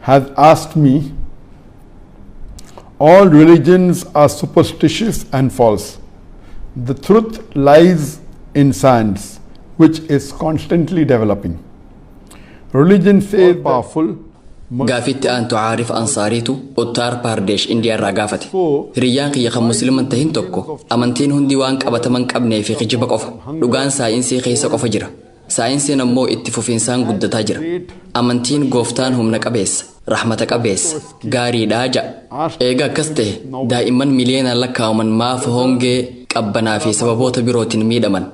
has asked me, all religions are superstitious and false. The truth lies in science, which is constantly developing. Religion says powerful. Gaafitti aantu Aarif Ansaariitu Uttar Pradesh Indiyaarraa gaafate. Hiriyyaan kiyya kan musliman tahin tokko amantiin hundi waan qabataman qabnee fi kijiba qofa. Dhugaan saayinsii keessa qofa jira. Saayinsiin ammoo itti fufinsaan guddataa jira. Amantiin Gooftaan humna qabeessa, rahmata qabeessa, gaariidha ja'a. Eega akkas tahe, daa'imman miliyoonaan lakkaa'aman maaf hongee, qabbanaa fi sababoota birootiin miidhaman?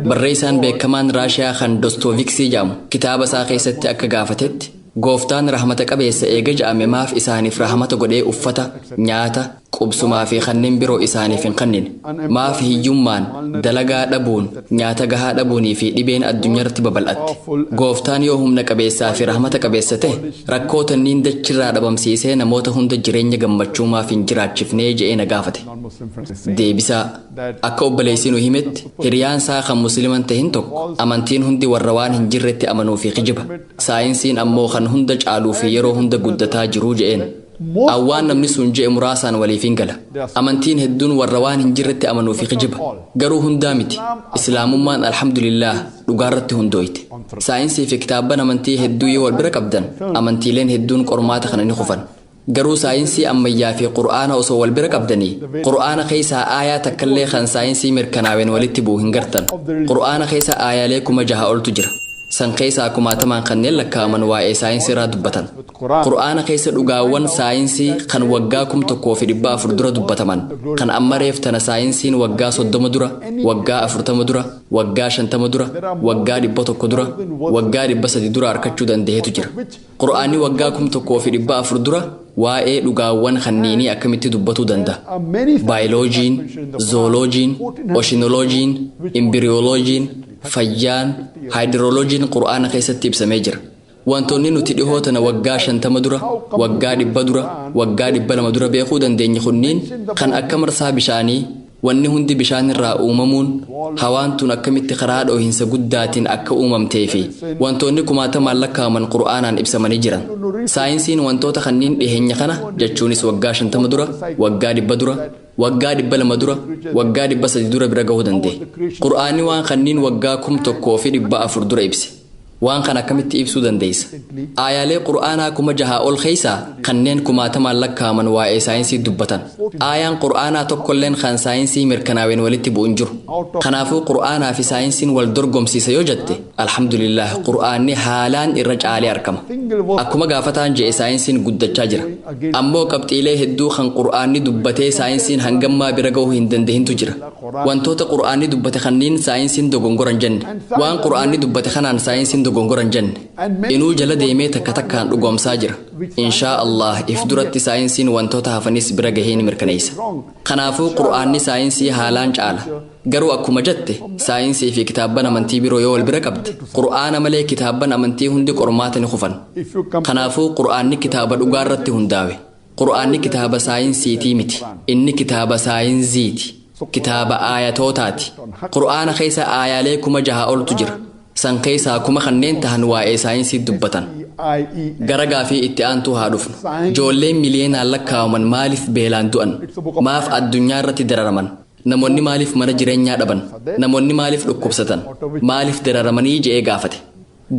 Barreessaan beekamaan Raashiyaa kan Dostoviksii ja'amu kitaaba isaa keessatti akka gaafatetti, Gooftaan rahmata qabeessa eega ja'ame maaf isaaniif rahmata godhee uffata, nyaata, qubsumaa fi kanneen biroo isaaniif hin kennine. Maaf hiyyummaan, dalagaa dhabuun, nyaata gahaa dhabuunii fi dhibeen addunyarratti babal'atte? Gooftaan yoo humna qabeessaa fi rahmata qabeessa ta'e, rakkoo tanniin dachirraa dhabamsiisee namoota hunda jireenya gammachuu maaf hin jiraachifnee je'ee na gaafate. Deebisaa, Akka obboleessi nu himetti, hiriyaan isaa kan Muslima hin tahin tokko, amantiin hundi warra waan hin jirretti amanuu fi kijiba. Saayinsiin ammoo kan hunda caaluu fi yeroo hunda guddataa jiru je'een. a Waan namni sun je'e muraasaan waliif hin gala. Amantiin hedduun warra waan hin jirretti amanuu fi kijiba. Garuu hundaa miti. Islaamummaan Alhamdulillaah dhugaarratti hundooyte. Saayinsii fi kitaabban amantii hedduu yoo wal bira qabdan amantiileen hedduun qormaata kana ni kufan. Garuu saayinsii ammayyaa fi Qur'aana osoo wal bira qabdanii Qur'aana keessaa aayaa takkallee kan saayinsii mirkanaaween walitti bu'u hin gartan. Qur'aana keessa aayaalee kuma jaha oltu jira. San keessaa kumaatamaan kanneen lakkaa'aman waa'ee saayinsiirraa dubbatan. Qur'aana keessa dhugaawwan saayinsii kan waggaa 1400 dura dubbataman, kan amma reef tana saayinsiin waggaa 30 dura, waggaa 40 dura, waggaa 50 dura, waggaa 100 dura, waggaa 300 dura arkachuu dandahetu jira. Qur'aanni waggaa 1400 dura waa'ee dhugaawwan kanniinii akkamitti dubbatuu dandaha? Baayiloojiin, Zooloojiin, Oshinoloojiin, Imbiriyooloojiin, Fayyaan, Haayidirooloojiin Qur'aana keessatti ibsamee jira. Wantoonni nuti dhihoo tana waggaa shantama dura, waggaa dhibba dura, waggaa dhibba lama dura beekuu dandeenye kunniin kan akka marsaa bishaanii, wanni hundi bishaan irraa uumamuun, hawaan tun akkamitti karaa dhoohinsa guddaatiin akka uumamtee fi wantoonni kumaatamaan lakkaa'aman Qur'aanaan ibsamanii jiran. Saayinsiin wantoota kanniin dhiheenya kana jechuunis waggaa shantama dura, waggaa dhibba dura, Waggaa dhibba lama dura, waggaa dhibba sadi dura bira gahuu danda'e. Qur'aanni waan kanniin waggaa kum tokkoo fi dhibba afur dura ibse. Waan kana akkamitti ibsuu dandeessa? Aayaalee Qur'aanaa kuma jahaa ol keessaa kanneen kumaatamaan lakkaa'aman waa'ee saayinsii dubbatan. Aayaan Qur'aanaa tokkolleen kan saayinsii mirkanaaween walitti bu'u hin jiru. Kanaafuu Qur'aanaa fi saayinsiin wal dorgomsiisa yoo jette, Alhamdulillaah Qur'aanni haalaan irra caalee arkama. Akkuma gaafataan je'e saayinsiin guddachaa jira. Ammoo qabxiilee hedduu kan Qur'aanni dubbatee saayinsiin hangammaa bira gahu hin dandahintu jira. Wantoota Qur'aanni dubbate kanniin saayinsiin dogongora hin janne. Waan Qur'aanni dubbate kanaan saayinsiin dogongora hin janne. Inuu jala deemee takka takkaan dhugoomsaa jira. Inshaa Allaah if duratti saayinsiin wantoota hafanis bira gahee ni mirkaneeysa. Kanaafuu Qur'aanni saayinsii haalaan caala. Garuu akkuma jatte saayinsii fi kitaabban amantii biroo yoo wal bira qabde qur'aana malee kitaabban amantii hundi qormaata ni kufan. Kanaafuu qur'aanni kitaaba dhugaa irratti hundaawe. Qur'aanni kitaaba saayinsiitii miti. Inni kitaaba saayinziiti. Kitaaba aayatootaati. Qur'aana keessa aayaalee kuma jaha oltu jira. San keessaa kuma kanneen tahan waa'ee saayinsii dubbatan. Gara gaafii itti aantuu haa dhufnu. Joolleen miliyeenaan lakkaawaman maaliif beelaan du'an? Maaf addunyaa irratti dararaman? Namoonni maaliif mana jireenyaa dhaban? Namoonni maaliif dhukkubsatan? Maaliif dararamanii je'ee gaafate.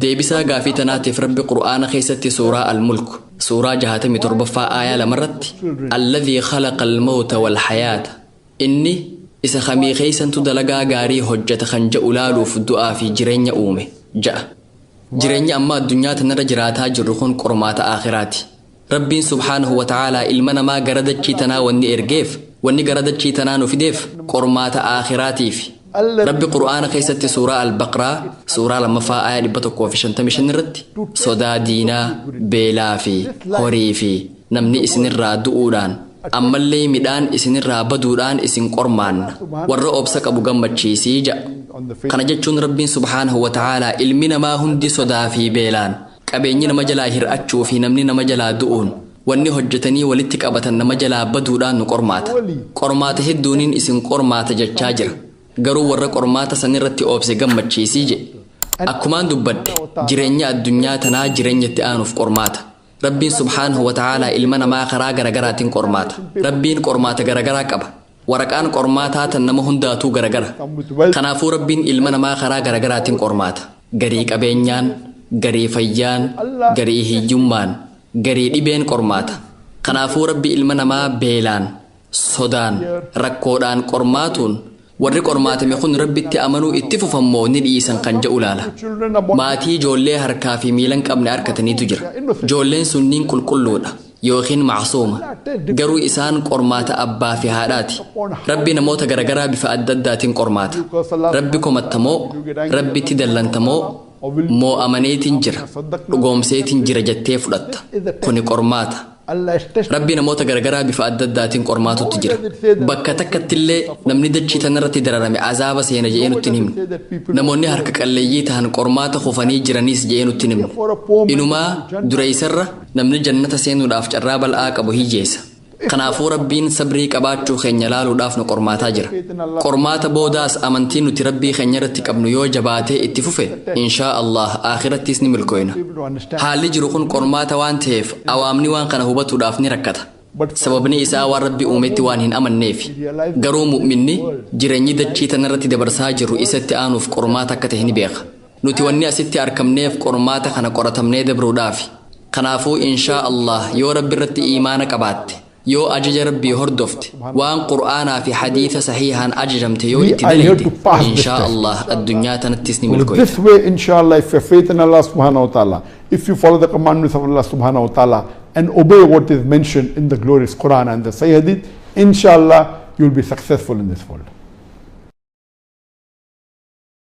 Deebisaa gaafii tanaatiif Rabbi Qur'aana keessatti suuraa Al-Mulk suuraa 67ffaa aayaa lamarratti Alladhii khalaqa al-mawta wal-hayaata inni isa kamii keessantu dalagaa gaarii hojjata kan ja'u laaluuf du'aa fi jireenya uume ja'a. Jireenyi amma addunyaa tanarra jiraataa jirru kun qormaata aakhiraati. Rabbiin subhaanahu wa ta'aalaa ilma namaa gara dachii tanaa wanni ergeef, wanni gara dachii tanaa nu fideef qormaata aakhiraatiifi. Rabbi Qur'aana keessatti suuraa Al-Baqraa suuraa 2ffaa aayah 155 irratti sodaa diinaa, beelaa fi horii fi namni isinirraa du'uudhaan, ammallee midhaan isinirraa baduudhaan isin qormaanna. Warra obsa qabu gammachiisi ja'a. Kana jechuun Rabbiin subhaanahu wa ta'aalaa ilmi namaa hundi sodaa fi beelaan Qabeenyi nama jalaa hir'achuu fi namni nama jalaa du'uun, wanni hojjatanii walitti qabatan nama jalaa baduudhaan nu qormaata. Qormaata hedduuniin isin qormaata jechaa jira. Garuu warra qormaata san irratti obse gammachiisi je'e. Akkumaan dubbadhe, jirenyi addunyaa tanaa jirenya itti aanuuf qormaata. Rabbiin subhaanahu wa ta'aalaa ilma namaa karaa garagaraatin qormaata. Rabbiin qormaata garagaraa qaba. Waraqaan qormaataa tan nama hundaatuu garagara. Kanaafuu Rabbiin ilma namaa karaa garagaraatin qormaata. Garii qabeenyaan, garii fayyaan, garii hiyyummaan, garii dhibeen qormaata. Kanaafuu Rabbi ilma namaa beelaan, sodaan, rakkoodhaan qormaatuun warri qormaatame kun Rabbitti amanuu itti fufan moo ni dhiisan kan ja'u laala. Maatii joollee harkaa fi miilan qabne arkataniitu jira. Joolleen sunniin qulqulluudha. yookiin ma'suuma. Garuu isaan qormaata abbaa fi haadhaati. Rabbi namoota garagaraa bifa adda addaatin qormaata. Rabbi komatta moo, Rabbitti dallanta moo, moo'amaneetin jira, dhugoomseetin jira jettee fudhatta. Kuni qormaata. Rabbi namoota garagaraa bifa adda addaatin qormaatutti jira. Bakka takkattillee namni dachii tanarratti dararame azaaba seena je'ee nutti hin himne. Namoonni harka qalleeyyii tahan qormaata kufanii jiraniis je'ee nutti hin himne. Inumaa dureeysarra Namni jannata seenuudhaaf carraa bal'aa qabu hiyyeessa. Kanaafuu Rabbiin sabrii qabaachuu keenya laaluudhaaf nu qormaataa jira. Qormaata boodaas amantiin nuti Rabbii keenya irratti qabnu yoo jabaatee itti fufe, inshaa Allaah aakhirattiis ni milkooyna. Haalli jiru kun qormaata waan taheef awaamni waan kana hubatuudhaaf ni rakkata. Sababni isaa waan Rabbi uumetti waan hin amanneefi. Garuu mu'minni jireenyi dachii tanarratti dabarsaa jirru isatti aanuuf qormaata akka tahe ni beeka. Nuti wanni asitti arkamneef qormaata kana qoratamnee dabruudhaafi. Kanaafuu inshaa Allaah yoo Rabbi irratti iimaana qabaatte, yoo ajaja Rabbii hordofte, waan Qur'aanaa fi Hadiisa sahiihaan ajajamte yoo itti dalayde, inshaa Allaah addunyaa tanattis ni With this milkooyta. way, inshallah, if you have faith in Allah subhanahu wa ta'ala, if you follow the commandments of Allah subhanahu wa ta'ala and obey what is mentioned in the glorious Quran and the Sahih Hadith, inshallah, you'll be successful in this world.